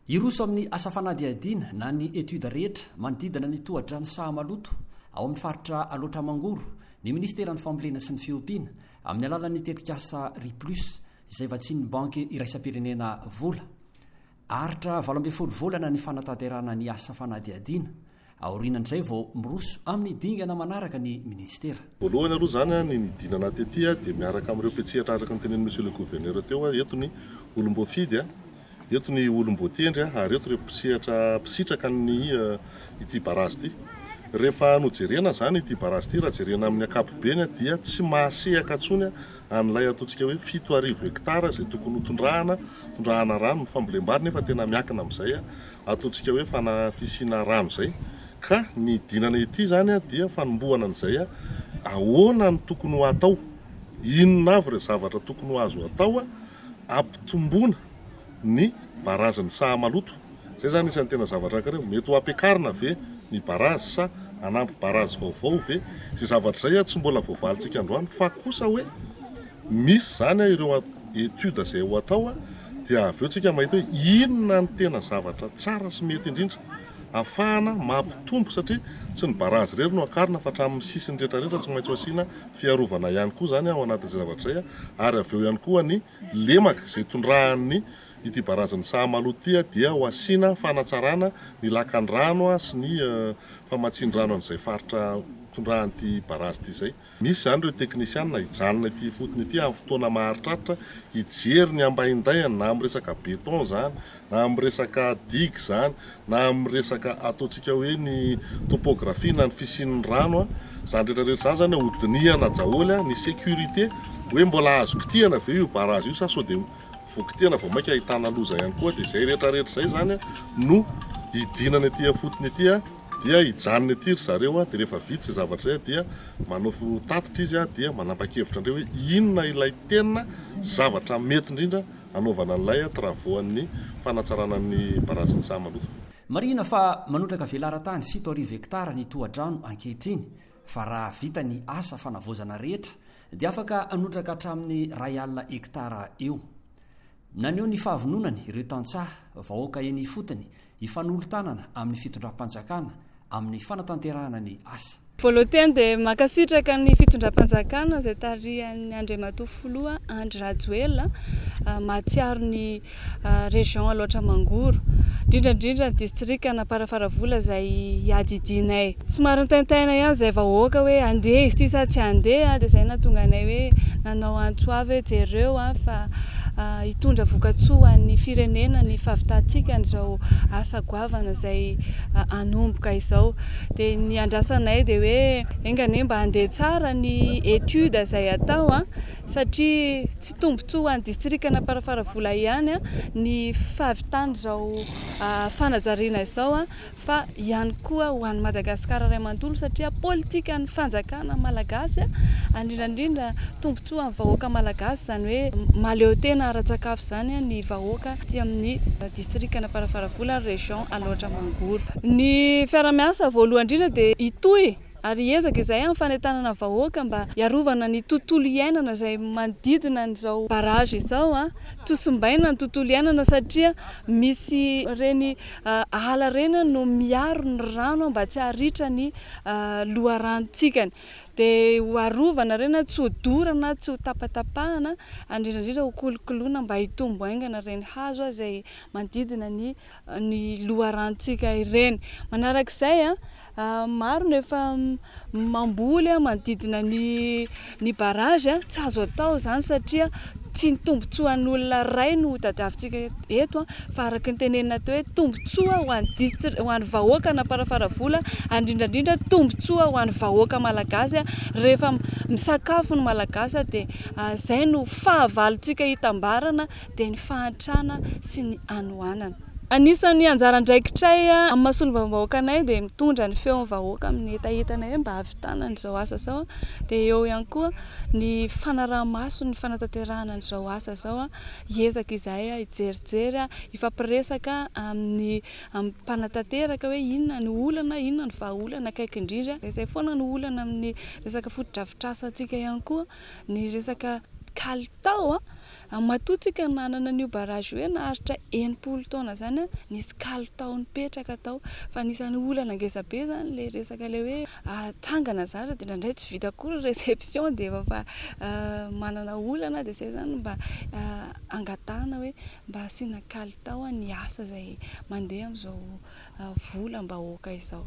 Hiroso amin'ny asa fanadihadiana na ny étude rehetra manodidina ny tohadrano Sahamaloto ao amin'ny faritra Alaotra Mangoro ny Ministeran'ny Fambolena sy ny Fiompiana amin'ny alalan'ny tetikasa Riplus izay vatsian'ny Banky Iraisam-pirenena Vola. Aritra valo ambin'ny folo volana ny fanatanterahana ny asa fanadihadiana, aorianan'izay vao miroso amin'ny dingana manaraka ny minisitera. Voalohany aloha izany, ny nidinana tety dia miaraka amin'ireo mpiantsehatra araka ny tenenin'i Monsieur le Gouverneur teo, eto ny olom-boafidy, eto ny olom-boatendry ary eto ireo mpisehatra mpisitraka ny ity barazy ity. Rehefa nojerena izany ity barazy ity, raha jerena amin'ny ankapobeny dia tsy mahasehaka intsony an'ilay ataontsika hoe fito arivo hectare izay tokony ho tondrahana, tondrahana rano ny fambolem-bary nefa tena miankina amin'izay ataontsika hoe fana-, fisiana rano izay. Ka ny idinana ety izany dia fanombohana an'izay ahoana no tokony ho atao, inona avy ireo zavatra tokony ho azo atao ampitomboana ny barazan'ny saha maloto. Izay izany isan'ny tena zavatra anankiray hoe mety ho ampiakarina ve ny barazy sa hanampy barazy vaovao ve? Izay zavatra izay tsy mbola voavalintsika androany fa kosa hoe misy izany ireo études izay ho atao dia avy eo isika mahita hoe inona no tena zavatra tsara sy mety indrindra hahafahana mampitombo satria tsy ny barazy irery no hakarina fa hatramin'ny sisiny rehetra rehetra tsy maintsy ho asiana fiarovana ihany koa izany ao anatin'izay zavatra izay ary avy eo ihany koa ny lemaka izay tondrahan'ny Ity barazin'i Sahamaloha ity dia ho asiana fanatsarana ny lakan'ny rano sy ny famatsian-drano an'izay faritra tondrahan'ity barazy ity izay. Misy izany ireo teknisiana hijanona ety ifotony ety amin'ny fotoana maharitraritra hijery ny ambahin-dainy na amin'ny resaka béton izany na amin'ny resaka digue izany na amin'ny resaka ataontsika hoe ny topographie na ny fisian'ny rano izany rehetra rehetra izany izany hodinihana daholo ny sécurité hoe mbola azo kitihina ve io barazy io sa sao dia voky tena vao mainka ahitana loza ihany koa dia izay rehetra rehetra izay izany no hidinana ety afotony ety dia hijanona ety ry zareo dia rehefa vita izay zavatra izay dia manao tatitra izy dia manapa-kevitra an'ireo hoe inona ilay tena zavatra mety indrindra hanaovana an'ilay travaux an'ny fanatsarana ny barazan'ny saha maloto. Marihina fa manotraka velaran-tany fito arivo hektara ny tohadrano ankehitriny fa raha vita ny asa fanavaozana rehetra dia afaka hanotraka hatramin'ny iray alina hektara eo. Naneho ny fahavononany ireo tantsaha, vahoaka eny ifotony hifanolo-tanana amin'ny fitondram-panjakana amin'ny fanatanterahana ny asa. Voalohoteny dia mankasitraka ny fitondram-panjakana izay tarihan'ny Andriamatoa Filoha Andry Rajoelina, mahatsiaro ny région Alaotra Mangoro, indrindra indrindra ny distrika An'Amparafaravola izay iadidianay. Somary nitaintaina ihany izay vahoaka hoe andeha izy ity sa tsy andeha dia izay nahatonga anay hoe nanao antso avy hoe jereo fa hitondra vokatsoa ho an'ny firenena ny fahavitantsika an'izao asa goavana izay hanomboka izao. Dia ny andrasanay dia hoe enga anie mba handeha tsara ny étude izay atao. satria tsy tombontsoa ho an'ny distrikan'Amparafaravola ihany ny fahavitan'izao fanajariana izao fa ihany koa ho an'i Madagasikara iray manontolo satria politikan'ny fanjakana malagasy indrindra indrindra tombontsoa amin'ny vahoaka malagasy izany hoe mahaleo tena ara-tsakafo izany ny vahoaka aty amin'ny distrikan'Amparafaravola région Alaotra Mangoro. Ny fiarahamiasa voalohany indrindra dia hitohy. Ary hiezaka izahay amin'ny fanentanana vahoaka mba hiarovana ny tontolo iainana izay manodidina an'izao barrage izao. Tosimbaina ny tontolo iainana satria misy ireny ala ireny no miaro ny rano mba tsy haharitra ny loharanontsika any. Dia ho arovana ireny tsy ho dorana, tsy ho tapatapahana, indrindra indrindra ho kolokoloina mba hitombo haingana ireny hazo izay manodidina ny. ny loharanontsika ireny. Manaraka izay, maro no efa mamboly manodidina ny ny barrage. Tsy azo atao izany satria tsy ny tombontsoan'olona iray no tadiavintsika eto fa araka ny tenenina teo hoe tombontsoa ho an'ny distri- ho an'ny vahoaka an'Amparafaravola ary indrindra indrindra tombontsoa ho an'ny vahoaka malagasy rehefa misakafo ny malagasy dia izay no fahavalontsika hitambarana dia ny fahantrana sy ny hanoanana. Anisan'ny anjara andraikitray amin'ny maha solombavambahoakanay dia mitondra ny feon'ny vahoaka amin'ny hetahetanay hoe mba hahavitana an'izao asa izao, dia eo ihany koa ny fanaraha-maso ny fanatanterahana an'izao asa izao, hiezaka izahay hijerijery, hifampiresaka amin'ny amin'ny mpanatanteraka hoe inona no olana, inona no vahaolana akaiky indrindra, izay foana no olana amin'ny resaka fotodrafitrasantsika ihany koa ny resaka kalitao An matoa tsika nanana an'io barrage io hoe naharitra enimpolo taona zany an, nisy kalitao nipetraka tao, fa anisan'ny olana ngeza be zany le resaka le hoe atsangana zany de ndraindray tsy vita akory reception de efa fa manana olana de zay zany mba angatahana hoe mba asiana kalitao an ny asa zay mandeha amzao volam bahoaka izao.